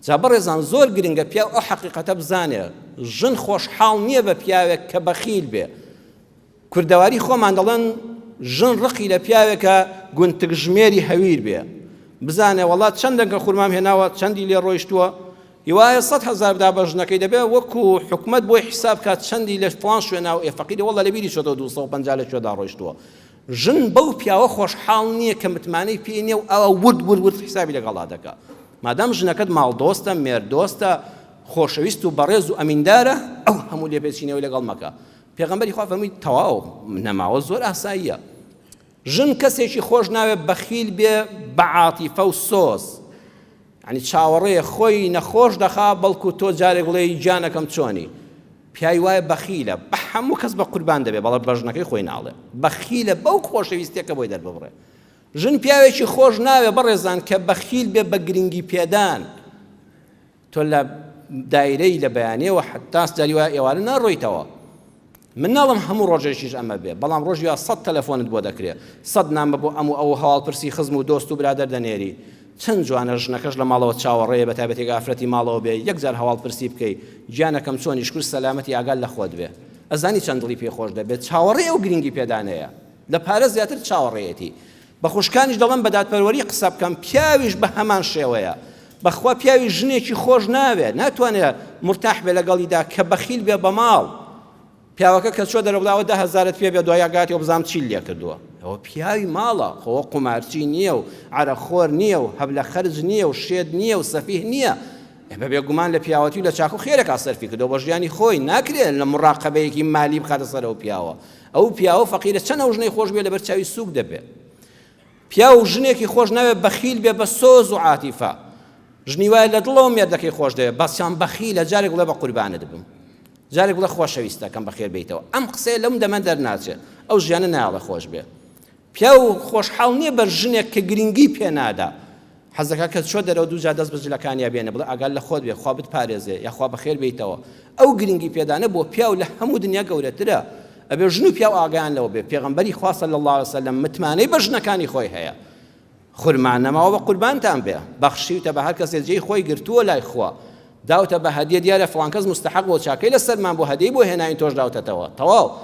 جا بەڕێزان زۆر گرنگە پیاو ئەو حەقیقەتە بزانێ ژن خۆشحاڵ نییە بە پیاوێک کە بەخیل بێ کوردەواری خۆمان دەڵێن ژن ڕقی لە پیاوێکە گونتک ژمێری هەویر بێ بزانێ وڵات چەند دەنگە خورمام هێناوە چەندی لێ ڕۆیشتووە هیوایە سە هزار بدا بە ژنەکەی دەبێ وەکو حکومت بۆی حیساب کات چەندی لە فلان شوێنا و ئێفەقیری وڵە لە بیری شۆدە 250 لە شوێدا ڕۆیشتووە ژن بەو پیاوە خۆشحاڵ نییە کە متمانەی پێ نییە و ئەوا ورد ورد ورد حیسابی لەگەڵا دەکا. مادام ژنەکەت ماڵدۆستە، مێردۆستە، خۆشەویست و بەڕێز و ئەمیندارە، ئەو هەموو لێپێچینەوەی لەگەڵ مەکە. پێغەمبەری خوا فەرمووی، تەواو، نەماوە زۆر ئاساییە. ژن کەسێکی خۆش ناوێ بەخیل بێ بە عاتیفە و سۆز. یانی چاوەڕێیە خۆی نەخۆش دەخا بەڵکوو تۆ جارێک بڵێی گیانەکەم چۆنی؟ پیای وایە بەخیلە بە هەموو کەس بە قوربان دەبێ بەڵام بە ژنەکەی خۆی ناڵێ بەخیلە بەو خۆشەویستیە کە بۆی دەرببڕێ ژن پیاوێکی خۆش ناوێ بەڕێزان کە بەخیل بێ بە گرنگی پێدان تۆ لە دایرەی لە بەیانەوە حتاس جاری وایە ئێوارە ناڕۆیتەوە من ناڵم هەموو ڕۆژێکیش ئەمە بێ بەڵام ڕۆژیا سە تەلەفۆنت بۆ دەکرێت سەد نامە بۆ ئەم و ئەو هەواڵپرسی خزم و دۆست و برادەر دەنێری چەن جوانە ژنەکەش لە ماڵەوە چاوەڕێیە بە تایبەتی گەر ئافرەتی ماڵەوە بێ یەک جار هەواڵ پرسی بکەی گیانەکەم چۆنی شکور سەلامەتی ئاگات لە خۆت بێ ئەزانی چەن دڵی پێ خۆش دەبێت چاوەڕێ ئەو گرنگی پێدانەیە لە پارە زیاتر چاوەڕێیەتی بە خوشکانیش دەڵم بە دادپەروەری قسە بکەم پیاویش بە هەمان شێوەیە بەخوا پیاوی ژنێکی خۆش ناوێ ناتوانێت مرتاح بێ لەگەڵیدا کە بەخیل بێ بە ماڵ پیاوەکە کە چوە دەرەوە بڵێ ئەوە دە هەزارت پێ بێ دوای ئەگاتەوە بزانم چیت لێ کردووە. ئەوە پیاوی ماڵە خۆ ئەوە قومارچی نییە و عەرەق خۆر نییە و هەب لە خەرج نییە و شێت نییە و سەفیه نییە ئێ بە بێ گومان لە پیاوەتی و لە چاکە و خێرێکا سەرفی کردووە بۆ ژیانی خۆی ناکرێ لە موڕاقەبەیەکی مالی بخاتە سەر ئەو پیاوە ئەو پیاوە فەقیرە چەن ئەو ژنەی خۆش بوێ لە بەر چاوی سووک دەبێ پیاو و ژنێکی خۆش ناوێ بەخیل بێ بە سۆز و عاتیفە ژنی وایە لە دڵەوە مێردەکەی خۆش دەوێت بەسیان بەخیلە جارێک بڵێ بە قوربانت بم جارێک بڵێ خۆشەویستەکەم بەخێر بیتەوە ئەم قسەیە لەم دەمە دەرناچێت ئەو ژیانە ناڵە خۆش بێ پیاو خۆشحاڵ نییە بە ژنێک کە گرنگی پێنادا حەز دەکات کە چۆ دەرەوە دوو جار دەست بە جلەکانیا بێنێ بڵێ ئاگات لە خۆت بێ خوا بتپارێزێ یا خوا بەخێر بێیتەوە ئەو گرنگی پێدانە بۆ پیاو لە هەموو دنیا گەورەترە ئەبێ ژن و پیاو ئاگایان لەوە بێ پێغەمبەری خوا صلی الله علیه وسلم متمانەی بە ژنەکانی خۆی هەیە خورمان نەماوە بە قوربانتان بێ بەخشیوتە بە هەر کەسێ جێی خۆی گرتووە لای خوا داوتە بە هەدیە دیارە فڵان کەس مستحق بۆ چاکەی لەسەرمان بۆ هەدیەی بۆ هێناین تۆش داوتەتەوە تەواو